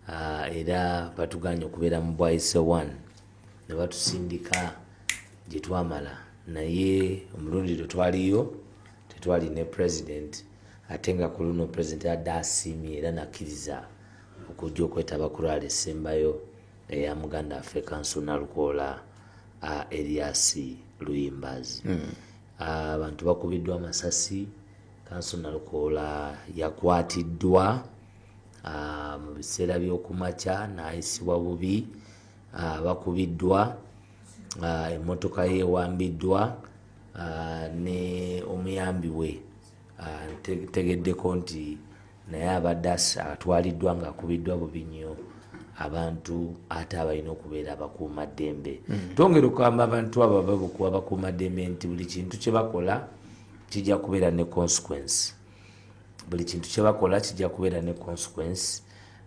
Ah, era batuganye okubeera mu bwaise one ne batusindika gye twamala naye omulundi lwe twaliyo tetwali ne president ate nga ku luno president adde asiimye era nakkiriza okujja okwetaba ku lwala esembayo eya muganda affe kanso nalukoola ah, eriasi luyimbazi hmm. ah, abantu bakubiddwa amasasi kanso nalukoola yakwatiddwa mu biseera by'okumakya n'ayisibwa bubi bakubiddwa emmotoka ye ewambiddwa ne omuyambi we tegeddeko nti naye abadde atwaliddwa ng'akubiddwa bubi nnyo abantu ate abalina okubeera abakuuma ddembe hmm. twongera okugamba abantu abo ababukuwa bakuuma ddembe nti buli kintu kye bakola kijja kubeera ne consequence buli kintu kyebakola kijja kubeera ne consequence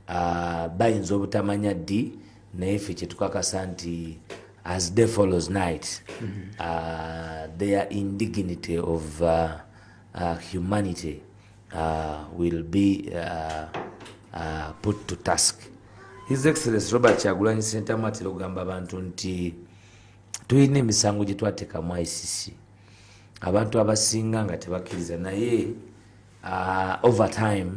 uh, bayinza obutamanya ddi naye ffe kyetukakasa nti as day follows night mm -hmm. uh, their indignity of uh, uh, humanity uh, will be uh, uh, put to task his excellence robert kyagulanyi sentamu atera okugamba abantu nti tulina emisango gyetwateekamu icc abantu abasinga nga tebakkiriza naye uh, over time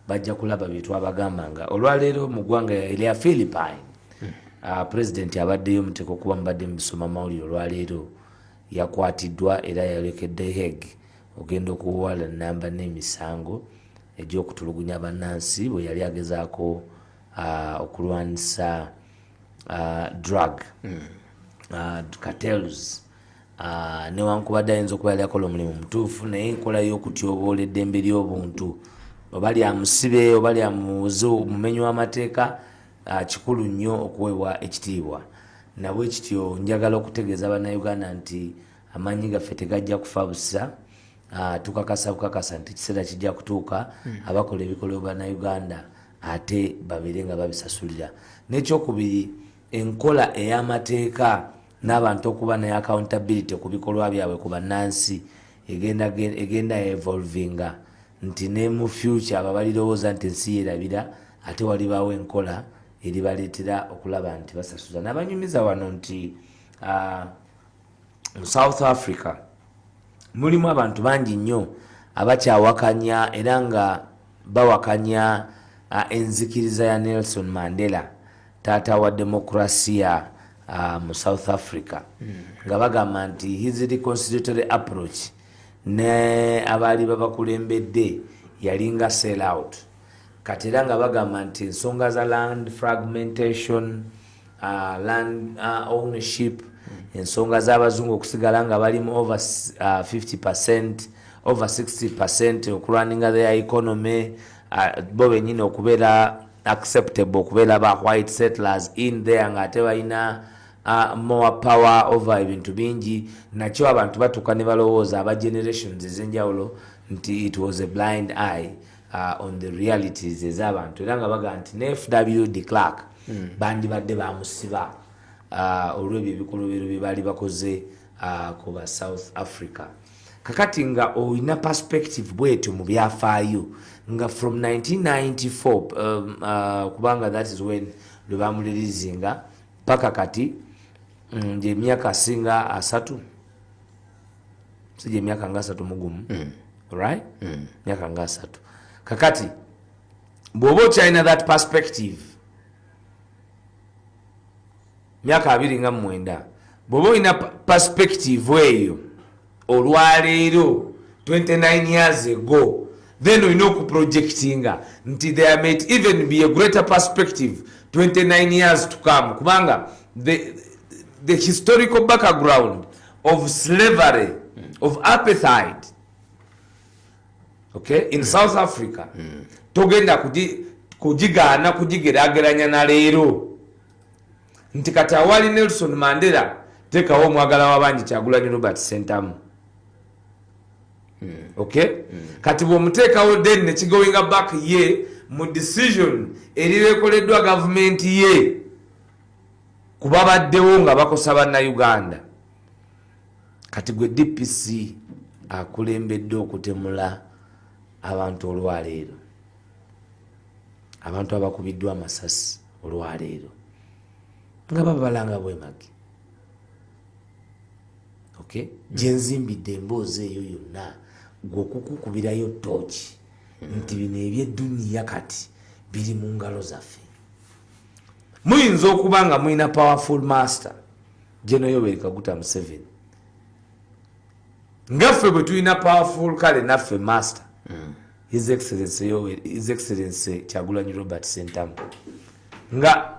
bajja kulaba byetwabagamba nga olwaleero mu ggwanga erya philippine hmm. uh, president abaddeyo muteeka okuba mubadde mubisoma mawulire olwaleero yakwatiddwa era yalekedde heg ogenda okuwala namba n'emisango egyokutulugunya bannansi bwe yali agezaako uh, okulwanisa uh, drug mm. uh, cartels Ah, newankubadde ayinza okuba yali akola omulimu mutuufu naye enkola y'okutyoboola eddembe ly'obuntu oba lyamusibe oba lyamuze omumenyi w'amateeka ah, kikulu nnyo okuweebwa ekitiibwa nabwe kityo njagala okutegeeza bannayuganda nti amaanyi gaffe tegajja kufa busa ah, tukakasa bukakasa nti ekiseera kijja kutuuka hmm. abakola ebikoleo bannayuganda ate babeere nga babisasulira n'ekyokubiri enkola ey'amateeka n'abantu okuba ne accountability ku bikolwa byabwe ku bannansi egenda egenda evolvinga nti ne mu future abo balirowooza nti ensi yerabira ate walibaawo enkola eribaleetera okulaba nti basasuza n'abanyumiza wano nti ah, mu south africa mulimu abantu bangi nnyo abakyawakanya era nga bawakanya ah, enzikiriza ya nelson mandela taata wa demokrasia uh, mu south africa mm. nga bagamba nti his reconciliatory approach ne abaali babakulembedde yalinga sell out kati era nga bagamba nti ensonga za land fragmentation uh, land uh, ownership mm. ensonga z'abazungu okusigala nga balimu over uh, 50 percent over 60 percent okulwaninga their economy uh, bo benyini okubeera acceptable okubeera ba white settlers in there nga ate balina uh, more power over ebintu bingi nakyo abantu batuuka ne balowooza aba generations ezenjawulo nti it was a blind eye uh, on the realities ezabantu era nga baga nti ne fw de clark mm. bandibadde bamusiba uh, olwebyo ebikolobero bye baali bakoze uh, ku ba south africa kakati nga olina perspective bwetyo mu byafaayo nga from 1994 um, uh, kubanga that is when lwe bamulirizinga paka kati mm, gyemyaka asinga asatu si gyemyaka nga asatu mugumu mm. right mm. myaka nga asatu kakati bw'oba okyalina that perspective myaka abiri nga mumwenda bwoba olina perspective eyo olwaleero 29 years ago then olina okuprojectinga nti there might even be a greater perspective 29 years to come kubanga the, the historical background of slavery of appetite okay in mm. south africa mm. togenda kujigaana kujigerageranya na leero nti kati awali nelson mandela tekawo omwagala wabangi kyagulanyi robert sentamu hmm. okay hmm. kati bwomuteekawo den nekigowinga back ye mu decision erirekoleddwa gavumenti ye kubabaddewo nga bakosa bannauganda kati gwe dpc akulembedde okutemula abantu olwaleero abantu abakubiddwa amasasi olwaleero nga babalanga bwemage okay mm. gyenzimbidde emboozi eyo yonna gwe okukukubirayo tooki mm. nti bino ebyedduniya kati biri mu ngalo zaffe muyinza okuba nga mulina powerful master genoyoweri kaguta museveni ngaffe bwe tulina powerful kale naffe master mm. His Excellency Yoweri, His Excellency Kyagulanyi Robert Sentamu. Nga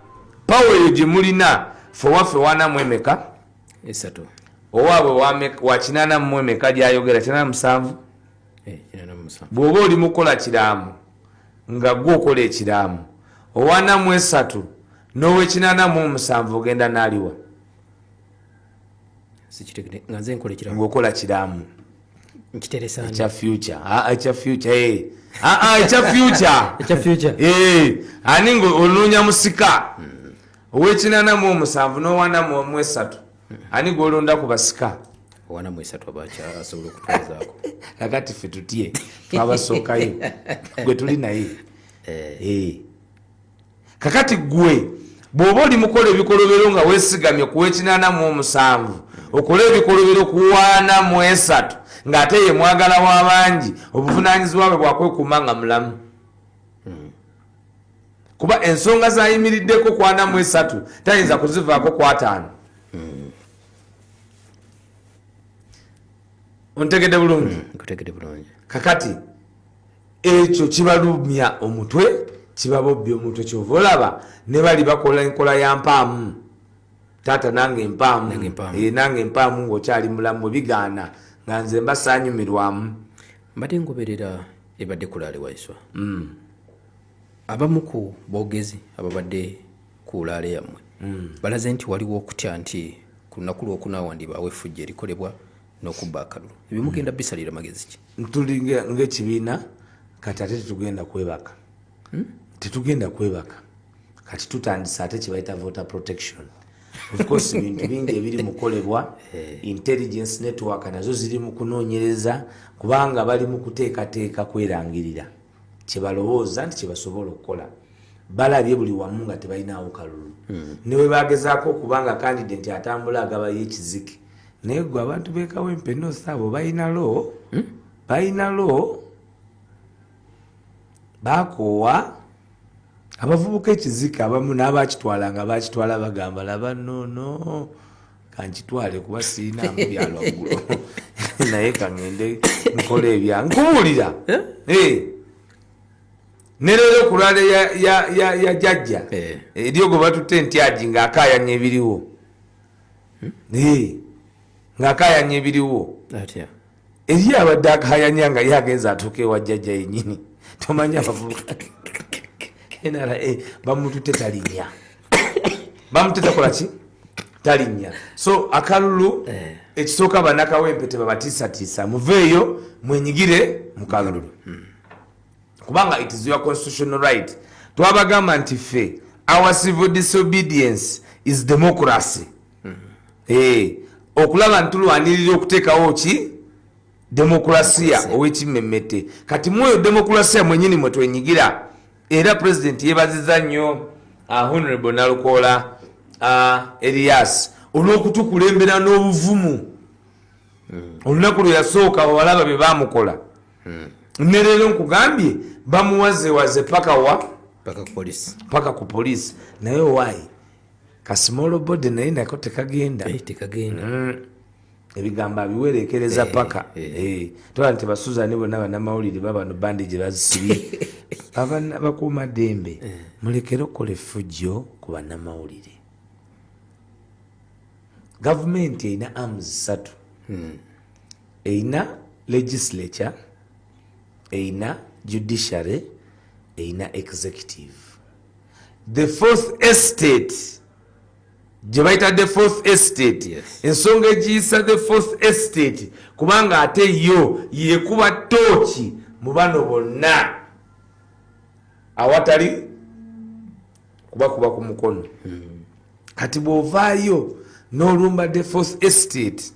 power yo gye mulina fe waffe wana mwemeka esatu owaabwe wa kinana mwemeka gyayogera kinana musanvu eh, bw'oba oli mukola kiraamo nga gwe okola ekiraamo owana mu esatu n'owekinana mu omusanvu ogenda n'aliwa ngaokola kiraamo nkiteresana ekya future ah, ah ekya future eh ah ah ekya future ekya future eh ani ngo ononya musika owekinana mu omusanvu nowana mu omu esatu ani gwolonda ku basika owana mu esatu abacha asobola okutwazako nakati fe tutye twabasookayo gwe tuli naye eh, eh. kakati gwe bwoba oli mukola ebikolobero nga wesigamye ku wekinana mu omusanvu okola ebikolobero ku waana mu esatu ng'ate ye mwagala wa bangi obuvunanyizibwa bwe bwakwekuuma nga mulamu kuba ensonga zayimiriddeko kwana mu esatu tayinza kuzivaako kwataano ontegedde bulungi mm, kakati ekyo kibalumya omutwe kibabobbya omutwe kyova olaba ne bali bakola enkola ya mpaamu taata nange mpaamu nange mpaamu eh, ngaokyali mulamu bigaana nga nze mba sanyumirwamu mbadde ngoberera ebadde kulaale waiswa mm. abamu ku boogezi ababadde ku laale yammwe mm. balaze nti waliwo okutya nti ku lunaku lwokuna wandibaawo efujja erikolebwa n'okubba akalulu ebyo mugenda mm. bisalira magezi ki tuli ngaekibiina kati ate tetugenda kwebaka hmm? tetugenda kwebaka kati tutandisa ate kyebayita voter protection ofcourse bintu bingi ebiri mukolebwa eh. intelligence network nazo ziri mukunonyereza kubanga bali mukuteekateeka kwerangirira kyebalowooza nti kyebasobola okukola balabye buli wamu nga tebalinawo kalulu hmm. newebagezaako okuba nga kandide nti atambula agabayo ekiziki naye gwe abantu bekawempe nosi abo balina lo hmm? balina lo bakoowa abavubuka ekiziki abamu n'abakitwala nga bakitwala bagamba laba nono no. kankitwale kuba sirina mu byalwaggulo naye kangende nkola ebya nkubuulira eh? Eh. ne leero ku lwale ya jajja eh. eryogo batutte entyagi ng'akaayanya ebiriwo hmm? ng'akaayanya ebiriwo eri abadde akayanya nga ye agenza atuuka ewa jjajja yenyini tomanyi abavubuka nra bamutute talinya bamutute takola ki talinya so akalulu eh. ekisooka banakawempe tebabatiisatiisa muveeyo mwenyigire mukalulu hmm. kubanga it is your constitutional right twabagamba nti ffe our civil disobedience is democracy hmm. hey, eh, okulaba ntulwanirira okuteekawo ki demokulasiya owekimmemmete kati mwoyo demokulasiya mwenyini mwe twenyigira era pulezidenti yebaziza nnyo ah, honorable nalukoola ah, elias olwokutukulembera n'obuvumu hmm. olunaku lwe yasooka awalaba bye bamukola hmm. ne leero nkugambye bamuwazewaze paka wa paka ku polisi naye owaayi ka small body naye nako tekagenda eh, tekagenda mm. ebigambo abiwerekereza eh, paka eh. eh. tola nti basuzani bonna banamawulire babano bandi gye bazisibye abana bakuuma dembe eh. mulekere okukola effujjo ku banamawulire gavumenti erina arms ssatu hmm. erina legislature erina judiciary erina executive the fourth estate gye bayita the fourth estate yes. ensonga egiyisa the fourth estate kubanga ate yo yekuba tooki mu bano bonna awatali kubakuba ku mukono hmm. kati bwovaayo n'olumba the fourth estate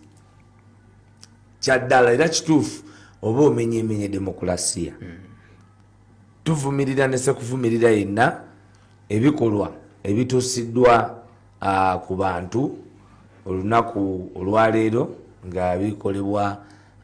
kyaddala era kituufu oba omenyemenya demokulasiya hmm. tuvumirira nesekuvumirira yenna ebikolwa ebituusiddwa ku bantu olunaku olwaleero nga bikolebwa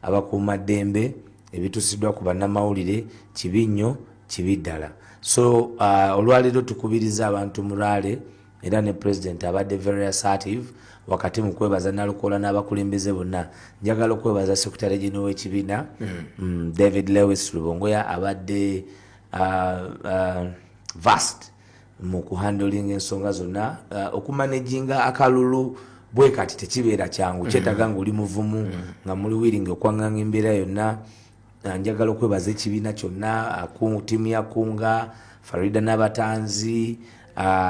abakuuma ddembe ebituusiddwa ku bannamawulire kibi nnyo kibi ddala so olwaleero tukubiriza abantu muraale era ne president abadde very assertive wakati mu kwebaza nalukoola n'abakulembeze bonna njagala okwebaza secretary general w'ekibiina mm. mm, david lewis lubongoya abadde uh, uh, vast mu kuhandling ensonga zonna uh, okumanejinga akalulu bwe kati tekibeera kyangu mm. kyetaga ngaoli muvumu mm. nga muli wiringi okwanganga embeera yonna njagala okwebaza ekibiina kyonna tiimu ya kunga farida n'abatanzi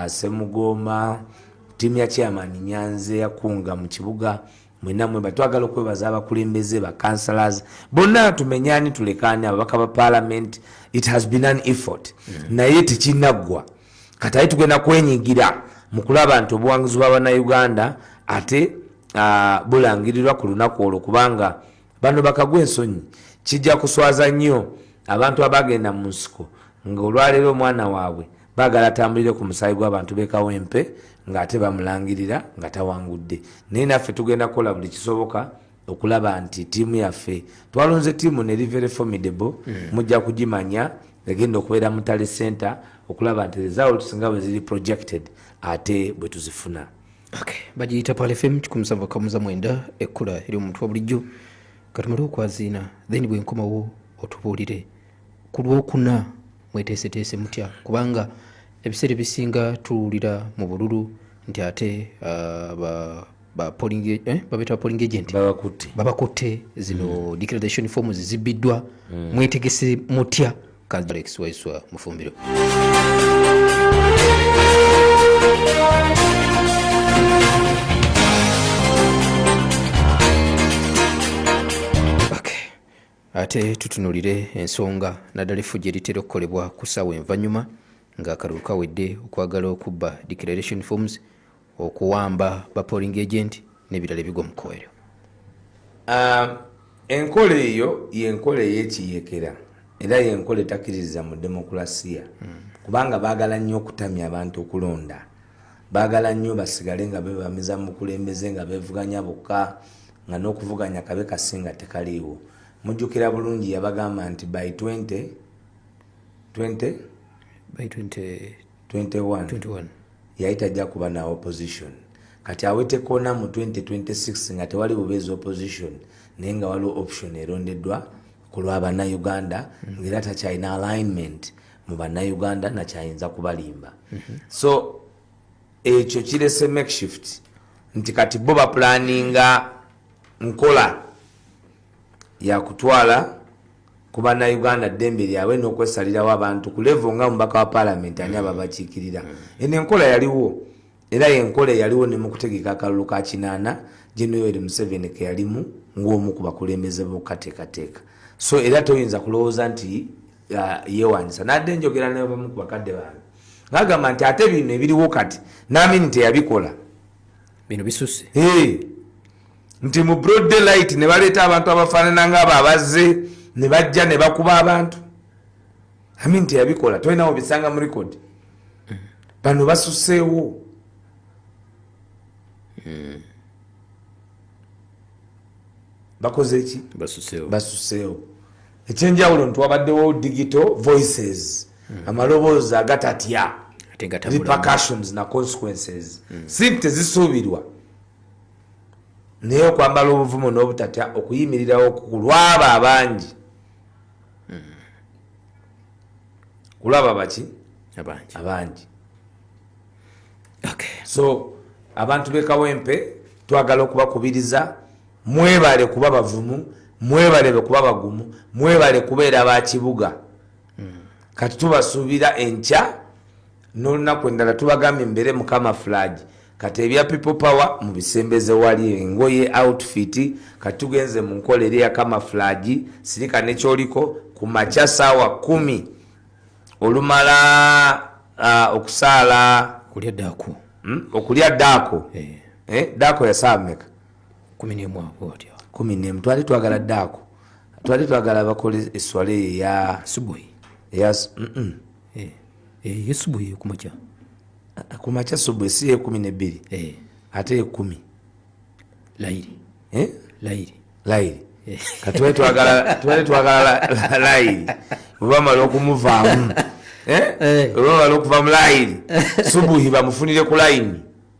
semugoma tiimu ya chairman nyanze yakunga mu kibuga mwenamwe batwagala okwebaza abakulembeze bacancelors bonna tumenyani tulekani ababaka ba parliament it has been an effort mm. naye tekinaggwa kati aye tugenda kwenyigira mu kulaba nti obuwanguzi bwa banauganda ate uh, bulangirirwa ku lunaku olwo kubanga bano bakagwa ensonyi kijja kuswaza nnyo abantu abagenda mu nsiko nga olwaleero omwana waabwe bagala atambulire ku musaayi gw'abantu bekawempe ng'ate bamulangirira nga tawangudde naye naffe tugenda kukola buli kisoboka okulaba nti tiimu yaffe twalonze tiimu ne rivere formidable hmm. mujja kugimanya egenda okubeera mutale center okulaba nti results nga bwe ziri projected ate bwe tuzifuna bagiyita pal fm kikumusava kamuza mwenda ekkula eri omuntu wa bulijjo katumale okwaziina then bwenkomawo otubuulire ku lwokuna mweteeseteese mutya kubanga ebiseera ebisinga tuwulira mu bululu nti ate uh, eh, babeta polling agent babakutte zino mm. declaration forms zibbiddwa mm. mwetegese mutya Alex Waiswa Mufumbiro. ate tutunulire ensonga naddala effujo eritera okukolebwa ku ssaawa envanyuma ng'akalulu kawedde okwagala okubba declaration forms okuwamba ba polling agent nebirala ebigwa mu kkubo eryo ah, enkola eyo yenkola eyekiyekera era yenkola etakiriza mu demokulasiya hmm. kubanga baagala nnyo okutamya abantu okulonda baagala nnyo basigale nga bebamiza mu bukulembeze nga bevuganya bokka nga n'okuvuganya kabe kasinga tekaliiwo mujjukira bulungi yabagamba nti by 20 20 by 20 21, 21. yali tajja kuba na opposition kati awetekona mu 2026 nga tewali bubeezi opposition naye nga waliwo option erondeddwa ku lwa bannayuganda mm. ngaera takyalina alignment mu bannayuganda nakyayinza kubalimba mm -hmm. so ekyo kirese makeshift nti kati bo bapulaninga nkola yakutwala ku bannayuganda ddembe lyabwe n'okwesalirawo abantu ku levo nga mubaka wa paalamenti ani ababakiikirira mm. eno enkola yaliwo era yenkola eyaliwo ne mu kutegeka akalulu ka kinaana genoweri museveni ke yalimu ng'omu ku bakulembeze b'okukateekateeka so era toyinza kulowooza nti uh, yeewanyisa nadde enjogera nebamu ku bakadde bange ngagamba nti ate bino ebiriwo kati naamini teyabikola bino bisuse nti mu broad daylight ne baleeta abantu abafaanana ngaabo abazze ne bajja ne bakuba abantu amin teyabikola tolinawo bisanga mu record bano basuseewo bakoze ki basuseewo ekyenjawulo nti wabaddewo digital voices hmm. amaloboozi agatatya repercussions na consequences hmm. si tezisuubirwa naye okwambala obuvumu n'obutatya okuyimirirawo kulwaba abangi hmm. kulwaba baki abangi so abantu bekawempe twagala okubakubiriza mwebale kuba bavumu mwebale kuba bagumu mwebale kubeera bakibuga kati tubasuubira enkya n'olunaku endala tubagambye mbeere mukama fulagi kati ebya people power mubisembeze wali engoye outfit kati tugenze mu nkola eri yakama fulagi sirika nekyoliko ku makya saawa kumi olumala uh, okusaala okulya daako hmm? okulya daako eh. Eh? daako yasaala meka kumi nemu twali twagala daako twali twagala bakole eswala eyo eya subuhi eyesubuhi ekumakya kumakya subuhi si ekumi nebbiri eh. ate ekumi lairi eh? lairi lairi eh. katubali twagala lairi webamala okumuvaamu webamala okuva mu lairi subuhi bamufunire ku laini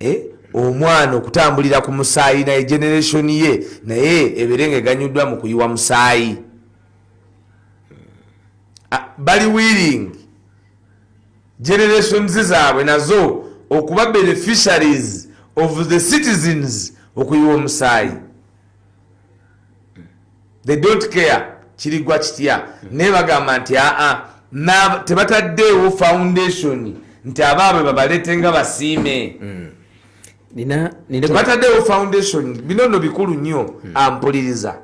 eh, omwana okutambulira ku musaayi naye generation ye naye ebeere nga eganyuddwa mu kuyiwa musaayi ah, bali willing generations zaabwe nazo okuba beneficiaries of the citizens okuyiwa omusaayi they don't care kirigwa kitya hmm. naye bagamba nti aa tebataddeewo foundation nti abaabwe babaleete nga basiime hmm. tebataddeewo foundation bino no bikulu nnyo hmm. ampuliriza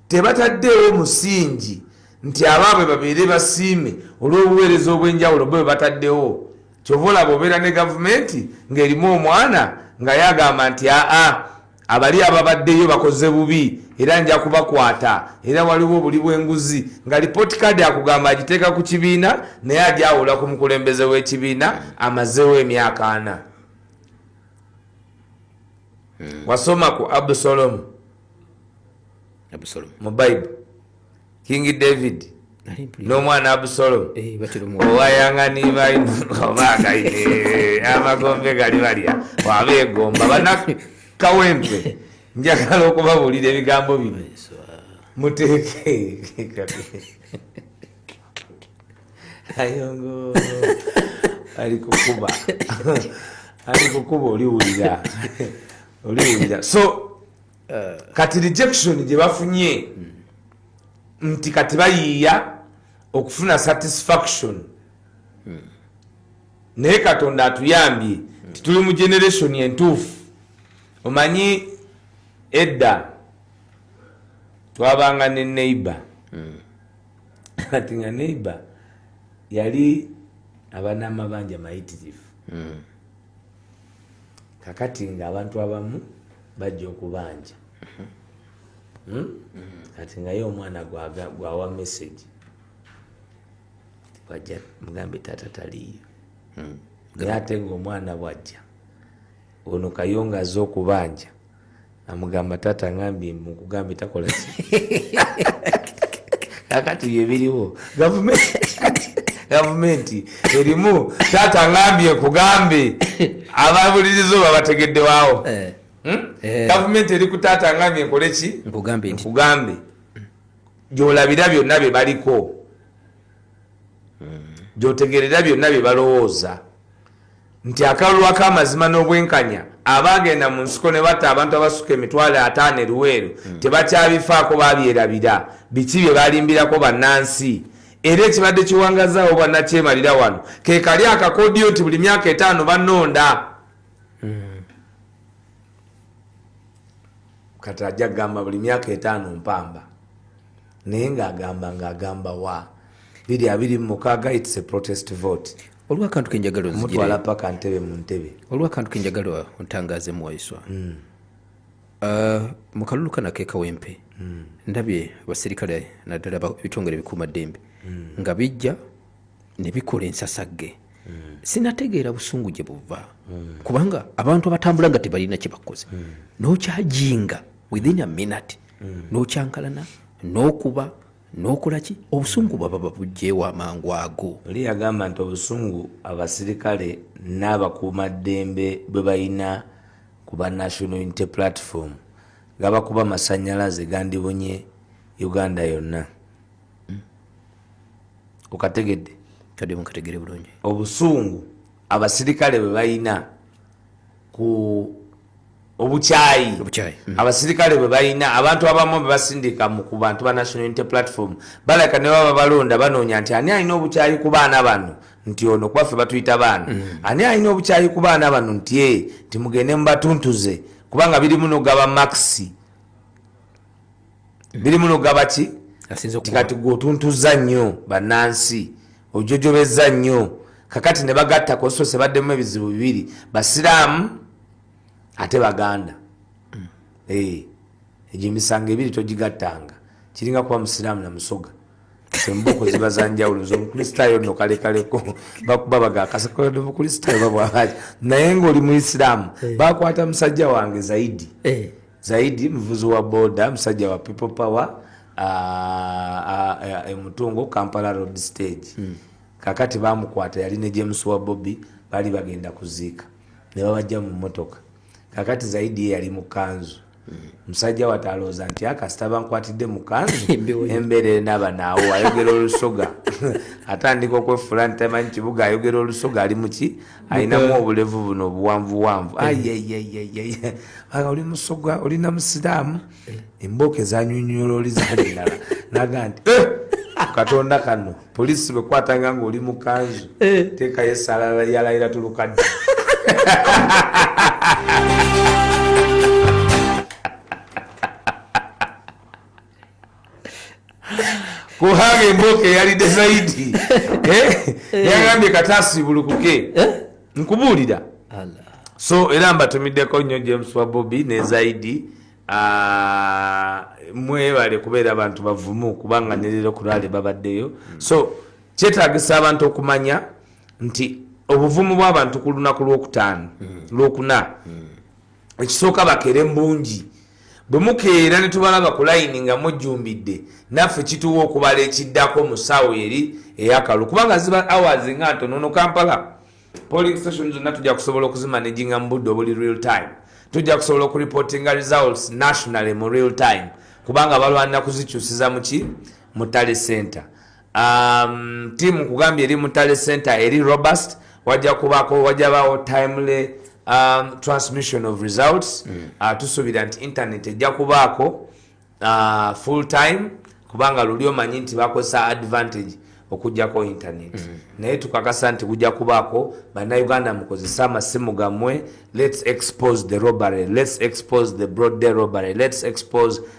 tebataddeewo musingi nti abaabwe babeere basiime olw'obuweereza obw'enjawulo bwe bataddewo kyova olaba obeera ne gavumenti ng'erimu omwana nga yagamba nti aa abali ababaddeyo bakoze bubi era nja kubakwata era waliwo obuli bwenguzi nga lipooti kaadi akugamba agiteeka ku kibiina naye ajawula ku mukulembeze w'ekibiina amazeewo emyaka ana hmm. wasoma ku abusolomu mu baibu kingi david n'omwana abusolo eh, owayanganibaobaagaye eh, amagombe gali balya wabeegomba banakawempe njagala okubabuulira ebigambo bino muteeke ayongo ali kukuba ali kukuba oliwulira oliwulira so eh. kati rejection gye bafunye hmm. nti kati bayiiya okufuna satisfaction hmm. naye katonda atuyambye nti tuli mu generation entuufu omanyi edda twabanga ne neighbor hmm. kati nga neighbor yali abanamabanja mayitirivu Mm. kakati nga abantu abamu bajja okubanja hmm? kati ngaye omwana gwawa message wajja mugambe tata taliyo hmm. naye ate ngaomwana bwajja ono kayonga aze okubanja amugamba taata ngambye mukugambye takola ki kakati bye biriwo gavumenti erimu taata ngambye kugambe ababuliriza oba bategedde waawo eh. hmm? eh. gavumenti eri ku taata ngambye nkole ki nkugambe gyolabira byonna bye baliko gyotegerera byonna bye balowooza nti akalulu akamazima n'obwenkanya abagenda mu nsiko ne batta abantu abasuka emitwalo ataano eruweeru hmm. tebakyabifaako babyerabira biki bye balimbirako bannansi era ekibadde kiwangazaawo bannakyemalira wano ke kali akakodiyo nti buli myaka etaano banonda hmm. kati ajja kugamba buli myaka etaano mpamba naye ng'agamba ng'agamba wa biri abiri mu mukaaga its a protest vote olwakantu kenjagala mutwala paka ntebe mu ntebe olwakantu kenjagala ontangaaze muwaiswa mm. uh, mu kalulu kana kekawempe mm. ndabye abaserikale naddala bitongole bikuuma ddembe mm. nga bijja ne bikola ensasagge mm. sinategeera busungu gye buva mm. kubanga abantu abatambula nga tebalina kye bakoze mm. nokyajinga within a minute mm. n'okyankalana n'okuba n'okola ki obusungu baba babugyewo amangu ago oli yagamba nti obusungu abasirikale n'abakuuma ddembe bwe balina ku ba national unity platform gabakuba amasanyalaze gandibunye uganda yonna mm. okategedde kadi mukategere bulungi obusungu abasirikale bwe balina ku obukyayi hmm. abasirikale bwe balina abantu abamu bebasindika ku bantu ba national unity platform balaka ne baba balonda banoonya nti ani alina obukyayi ku baana bano nti ono kubaffe batuyita baana hmm. ani alina obukyayi ku baana bano nti e timugende mubatuntuze kubanga birimu nogaba maxi biri muno gabaki kati gwe otuntuzza nnyo bannansi ojojobezza nnyo kakati ne bagatta kosose baddemu ebizibu bibiri basiraamu ate baganda hmm. eh, egyo emisango ebiri togigattanga kiringa kuba musiraamu na musoga emboko ziba zanjawulo zomukristaayo no kalekaleko bakuba bagakasakode mukristaayo babwaaji naye ngaoli muisiraamu eh. bakwata musajja wange zaidi eh. Zaidi muvuzi wa boda musajja wa people power emutungo e, e, Kampala road stage mm. kakati bamukwata yali ne James wa Bobby bali bagenda kuziika ne babajja mu motoka kakati Zaidi yali mu kanzu musajja watalooza nti akasita ah, bankwatidde mukanzu embeera enaba naawo ayogera olusoga atandika okwefula nti tamanyi kibuga ayogera olusoga ali muki alinamu obulevu buno obuwanvuwanvu eh. aga oli musogwa olina musiraamu eh. embooko ezanyonyola oli zalendala naga nti eh! katonda kano polisi bekwatanga nga oli mukanzu tekayo esalala yalayira tulukadde kuhanga emboka eyalidde zaidi eh? eh. yagambye katasibulukuke eh? nkubuulira so era mbatumiddeko nnyo james wa bobi ne zaidi ah, mwebale kubeera abantu bavumu kubanga nerero kuraale babaddeyo hmm. so kyetagisa abantu okumanya nti obuvumu bw'abantu ku lunaku lwokutaano hmm. lwokuna hmm. ekisooka bakeere mbungi bwe mukeera ne tubalaba ku layini nga mujjumbidde naffe kituwa okubala ekiddako mu ssaawa eri eyakalu kubanga ziba awazi nga ntono no kampala polling station zonna tujja kusobola okuzimanejinga mu budde obuli real time tujja kusobola okuripotinga results nationally mu real time kubanga balwanira kuzikyusiza muki mu tale center um, tiimu nkugambye eri mutale center eri robust wajja kubako wajabawo timely um, transmission of results mm. uh, tusuubira nti internet ejja kubaako uh, full time kubanga luli omanyi nti bakozesa advantage okujjako internet mm -hmm. naye tukakasa nti kujja kubaako bannayuganda mukozese amasimu gammwe let's expose the robbery let's expose the broad day robbery let's expose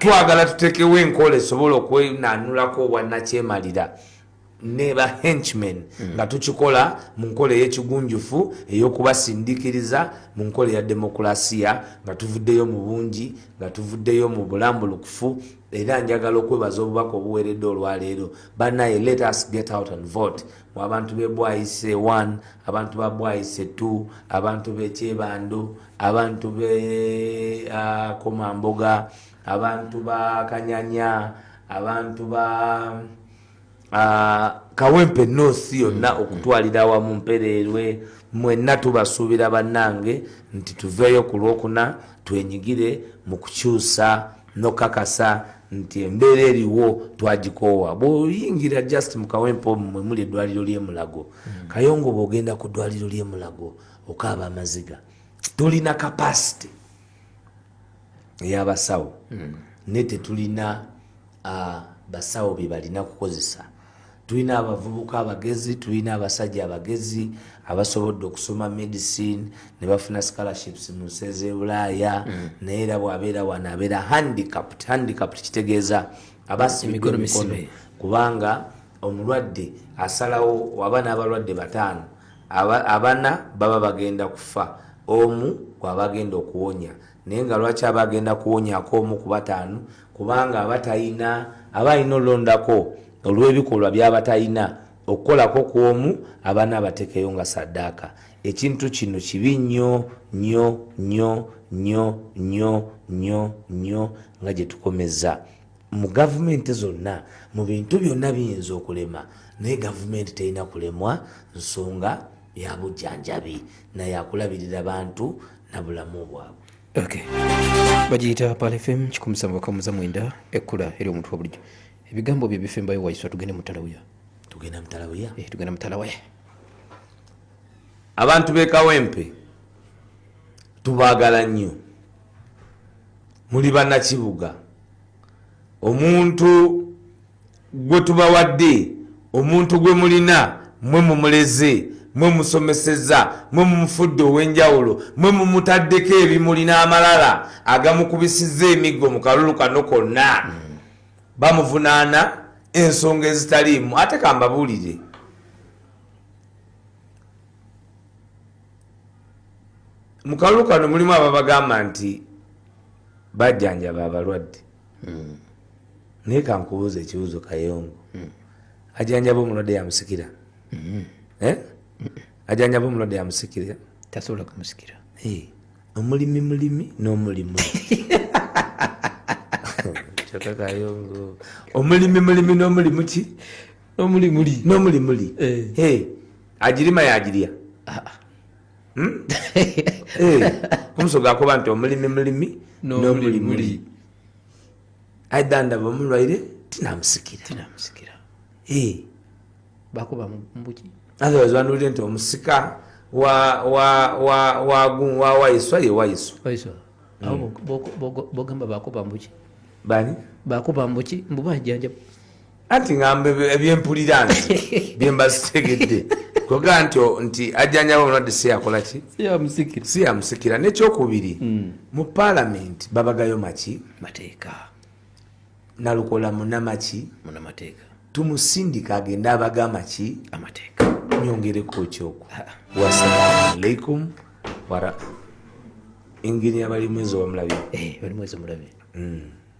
twagala tutekewo enkola esobola okwenanulako obwannakyemalira neba henchman hmm. nga tukikola mu nkola ey'ekigunjufu ey'okubasindikiriza mu nkola eya demokulasiya nga tuvuddeyo mu bungi nga tuvuddeyo mu bulambulukufu era njagala okwebaza obubaka obuweredde olwaleero banaye let us get out and vote mu abantu bebwayise 1 abantu babwayise 2 abantu bekyebando abantu be uh, komamboga abantu ba kanyanya abantu ba uh, kawempe nosi yonna mm. okutwalira awamu mpereerwe mwenna tubasuubira bannange nti tuveeyo ku lwokuna twenyigire mu kukyusa nokakasa nti embeera eriwo twagikoowa bwoyingira just mukawempe omumwe muli edwaliro lyemulago mm. kayongo bwogenda ku dwaliro lyemulago okaaba amaziga tulina kapasite eyabasawo hmm. naye tetulina uh, basawo bye balina kukozesa tulina abavubuka abagezi tulina abasajja abagezi abasobodde okusoma medicine ne bafuna scholarships mu nsi ezebulaaya mm. naye era bwabeera wano abeera handicapt handicapt kitegeeza abasimiko emikono kubanga omulwadde asalawo waba n'abalwadde bataano abana baba bagenda kufa omu gwabagenda okuwonya naye nga lwaki aba agenda kuwonyako omu ku bataano kubanga aba talina aba alina olulondako olw'ebikolwa byaba talina okukolako ku omu abaana abatekeyo nga saddaaka ekintu kino kibi nnyo nnyo nnyo nnyo nnyo nnyo nnyo nga gye tukomeza mu gavumenti zonna mu bintu byonna biyinza okulema naye gavumenti terina kulemwa nsonga ya bujjanjabi naye akulabirira bantu na bulamu bwabwe okay. bagiyita palfm kikumusamba bakamuza mwenda ekkula eri omuntu wabulijjo ebigambo bye bifembayo waiswa tugende mutalawuya tugenda mutalawuya eh, tugenda mutalawuya abantu bekawempe tubagala nnyo muli banakibuga omuntu gwe tubawadde omuntu gwe mulina mwe mumuleze mwe musomeseza mwe mumufudde ow'enjawulo mwe mumutaddeko ebimuli n'amalala agamukubisiza emiggo mu kalulu kano konna hmm. bamuvunaana ensonga ezitaliimu ate kambabuulire mu kalulu kano mulimu ababagamba nti bajjanjaba abalwadde hmm. naye kankubuuza ekibuuzo kayongo hmm. ajanjaba omulwadde yamusikira hmm. eh? ajanjaba omulwadde yamusikira tasobola kumusikira eh, omulimi mulimi n'omulimu kayongo omulimi mulimi n'omulimu ki n'omulimuli n'omulimuli eh. agirima yagirya ah, ah. hmm? eh, omusoga akoba nti omulimi mulimi nomulimuli aidha ndaba omulwaire tinamusikira eh. bakuba mubuki otherwise banulire nti omusika wawaiswa ye waiswa hmm. bogamba bakuba mbuki bani bakuba mbuki mbuba jjanjaba anti ngamba ebyempulira nti byemba zitegedde koga nti nti ajjanjaba omulwadde si yakolaki si yamusikira nekyokubiri hmm. mu palamenti babagayo maki mateeka nalukola munamaki munamateeka tumusindika agende abaga amaki amateeka nyongereko kyoku ah. wasalamu alaikum wara engeri abali mwezi wamulabi eh, bali mwezi omulabi hmm.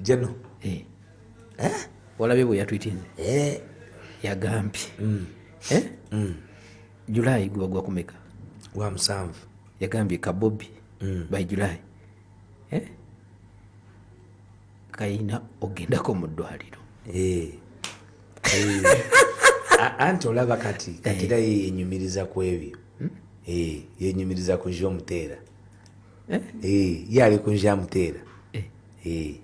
jeno eh. eh? olabye bwe yatwitinze eh. yagambye mm. eh? mm. julayi gwebagwa kumeka wa musanvu yagambye kabobi mm. by julayi eh? kayina ogendako mu ddwaliro eh. eh. anti olaba kati katira eh. yenyumiriza ku ebyo hmm? eh. yenyumiriza ku zyomuteera eh? Eh, ye ali kunja amuteera eh.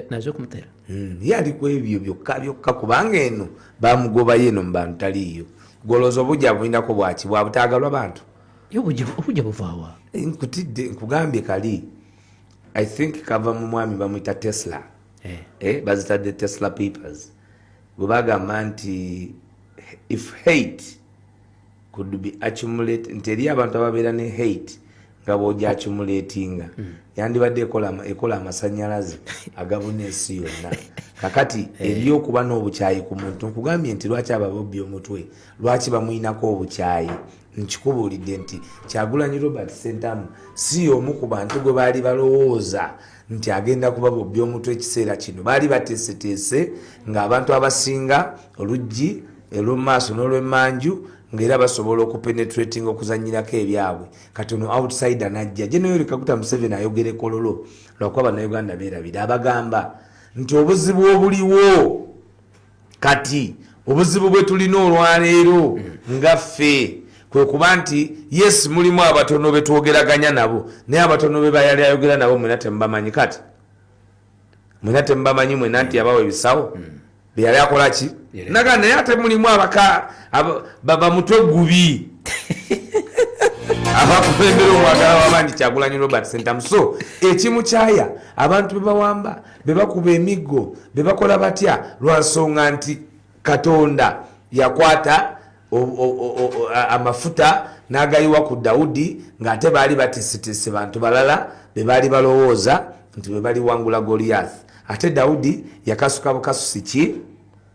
naze okumutera hmm, ye ali ku ebyo byokka byokka kubanga eno bamugobayo eno mubantu taliiyo golooza obujja bulinako bwaki bwabutaagalwa bantu obujja buvaawa nkutidde nkugambye kali i think kava mu mwami bamwita tesla bazitadde tesla papers bwe bagamba nti if hate could be accumulate nti eri abantu ababeera ne hate nga bwoja accumulatinga mm. yandibadde ekola amasanyalaze agabuna ensi yonna kakati eh. eri okuba n'obukyayi ku muntu nkugambye nti lwaki ababobbi omutwe lwaki bamuyinako obukyayi nkikubuulidde nti kyagulanyi robert sentamu si omu ku bantu gwe baali balowooza mm. nti agenda kuba bobbi omutwe ekiseera kino baali bateeseteese ng'abantu abasinga oluggi elw'omu maaso n'olw'emmanju ngaera basobola okupenetrating okuzanyirako ebyabwe kati ono outside anajja je naye olikakuta museveni ayogere kololo lwakuba banauganda berabira abagamba nti obuzibu obuliwo kati obuzibu bwe tulina olwaleero hmm. nga ffe kwe kuba nti yes mulimu abatono be twogeraganya nabo naye abatono be bayali ayogera nabo mwena temubamanyi kati mwena temubamanyi mwena nti yabawa ebisawo hmm. beyali akola ki naga naye ate mulimu abaka bamutwe gubi abakuembera omwagala wabangi kyagulanyi robert sentamu so ekimu kyaya abantu bebawamba bebakuba emiggo bebakola batya lwansonga nti katonda yakwata amafuta n'agayiwa ku dawudi ng'ate baali batisitisi bantu balala be baali balowooza nti be baliwangula goliyath ate dawudi yakasuka bukasusi ki